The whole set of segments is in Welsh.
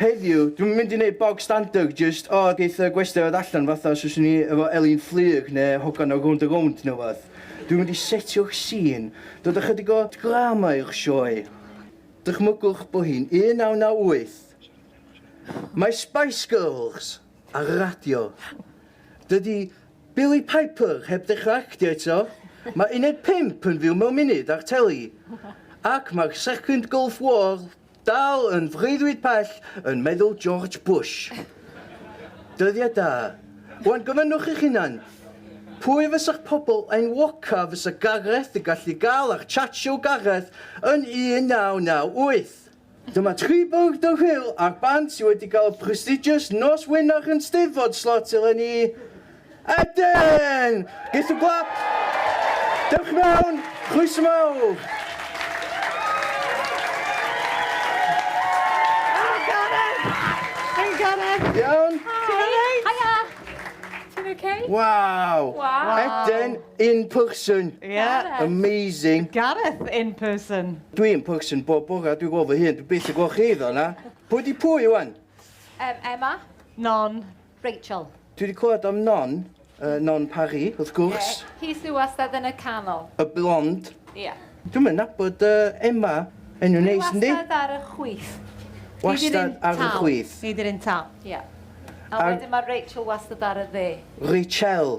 Heddiw, dwi'm yn mynd i neud bog standard jyst o geith y gwestai ddod allan fatha os fyswn i efo Elin Fflyg ne hogan o Rownd a Rownd ne wbath. Dwi'n mynd i setio'r sîn, dod â chydig o drama i'r sioe. Dychmygwch bo hi'n 1998. Mae Spice Girls ar y radio. Dydi Billie Piper heb ddechra actio eto, mae Uned Pump yn fyw mewn munud ar teli, ac mae'r Second Gulf War Dal yn freuddwyd pell yn meddwl George Bush. Dyddiau da. Rwan gofynnwch eich hunan, pwy fysa'ch pobl enwoca fysa Gareth yn gallu gael ar Chat Show Gareth yn 1998? Dyma tri bwrdd o hwyl ar band sydd wedi cael y prestigious nos wener yn Steddfod slot eleni. Eden! Give some clap! Dewch mewn, chroeso mawr! Iawn? Hiya! Ti'n okay? Wow! Wow. Eden in person. Yeah. Amazing. Gareth in person. Dwi in person bob bora, dwi gweld fy hun, dwi byth yn gweld chi ddo na. Pwy di pwy wan? Um, Emma. Non. Rachel. Dwi 'di clywed am Non, yy Non Parry, wrth gwrs. Ie, hi sy wastad yn y canol. Y blond. Ie. Dwi'm yn nabod yy Emma. Enw neis, yndi? Dwi wastad ar y chwith. Wastad ar y chwith. Neu 'di'r un tal. Ie. A wedyn ma' Rachel wastad ar y dde. Rachel.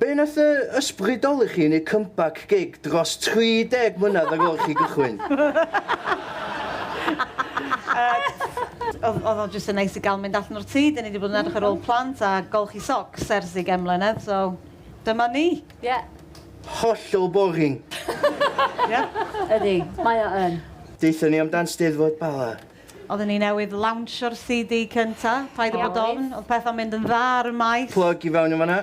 Be wnaeth fy ysbrydoli chi i wneud comeback gig dros 30 mlynedd ar ôl i chi gychwyn? Oedd oedd o jyst yn neis i gael mynd allan o'r tŷ, dan ni 'di bod yn edrych ar ôl plant a golchi socs ers ugain mlynedd, so dyma ni. Ie. Hollol boring! Ie. Ydi, mae o yn. Deuthon ni amdan Steddfod Bala. Oedden ni newydd lawnsio'r CD cynta, paid â bod ofn, oedd pethau'n mynd yn dda ar y maes. Plug i fewn yn fan'na.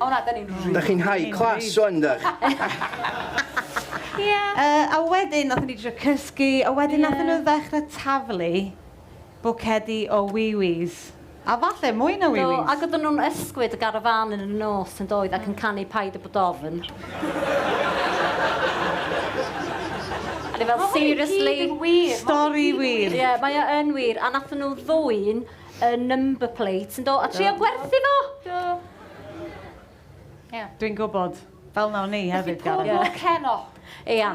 O na, da ni'n rili... Da chi'n high class wan, dach? Ia. Yy, a wedyn nathon ni drio cysgu, a wedyn... Ie. ...nathon nhw ddechre taflu bwcedi o wiwis, a falle mwy na wiwis. Do, ac oedden nhw'n ysgwyd y garafán yn y nos yn doedd, ac yn canu Paid â bod ofn. A ni fel, seriously? Stori wir. Ie, mae o yn wir, a nathon nhw ddwyn y number plate yndo? A trio gwerthu fo! Do. Ia. Dwi'n gwybod. Fel 'na o'n i hefyd Gareth. Felly pob lwc heno. Ia.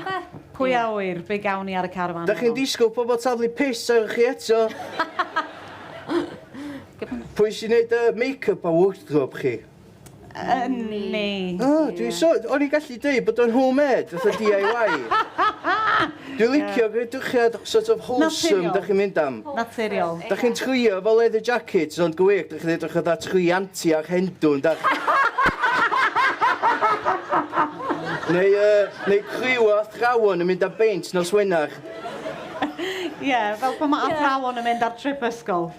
Pwy a ŵyr be gawn ni ar y carafan heno? Dach chi'n disgwyl pobl taflu piss arnoch chi eto? Pwy sy'n neud y make-up a wardrobe chi? Yn ni. O, dwi'n so... O'n i'n gallu deud bod o'n home-made, fatha DIY. Dwi'n licio gwreidrwychiad sort of wholesome dach chi'n mynd am. Naturiol. Dach chi'n trwio efo leather jackets ond go wir, dach chi'n edrych fatha tri anti ar Hendw, yn dach? Neu yy, neu criw o athrawon yn mynd am beint nos Wener. Ie, fel pan mae athrawon yn mynd ar trip ysgol.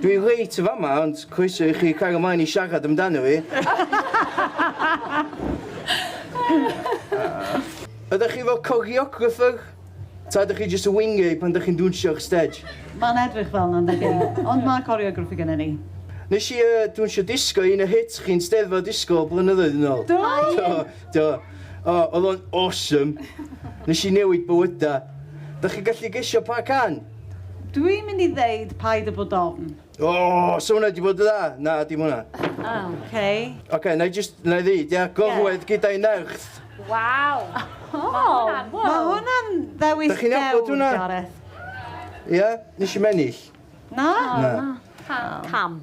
Dwi reit yn fama ond croeso i chi cario mlaen i siarad amdano fi. Ydach chi fel coreographer? Ta ydych chi jyst yn wingio hi pan dych chi'n dwnsio'r stej? Mae'n edrych fel 'na yndi? Ond mae coreographer gennym ni. Nes i yy dwnsio disgo i un o hits chi'n Steddfod Disgo blynyddoedd yn ôl. Do? Do, do. O, oedd o'n awesome. Nes i newid bywydau. Dach chi'n gallu gesio pa can? Dwi'n mynd i ddeud paid a bod ofn. O! Sa hwnna di bod yn dda? Na, dim hwnna. O, oce. Oce, na i jyst, na i ddeud, ia? Gorwedd gyda'i nerth. Waw! O! Mae hwnna'n ddewis dewr, Gareth. Da chi'n nabod hwnna? Ia? Nes i'm ennill. Na? Na. Pam?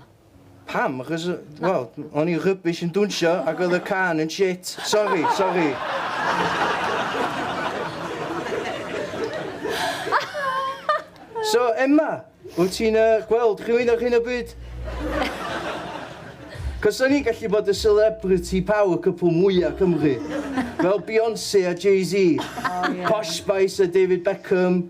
Pam? Achos, wel, o'n i'n rubbish yn dwnsio ac oedd y can yn shit. Sori, sori. So, Emma, wyt ti'n uh, gweld chi'n mynd ar hyn o bryd? Cos o'n i'n gallu bod y celebrity power couple mwyaf Cymru. Fel Beyoncé a Jay-Z. Oh, yeah. Posh Spice a David Beckham.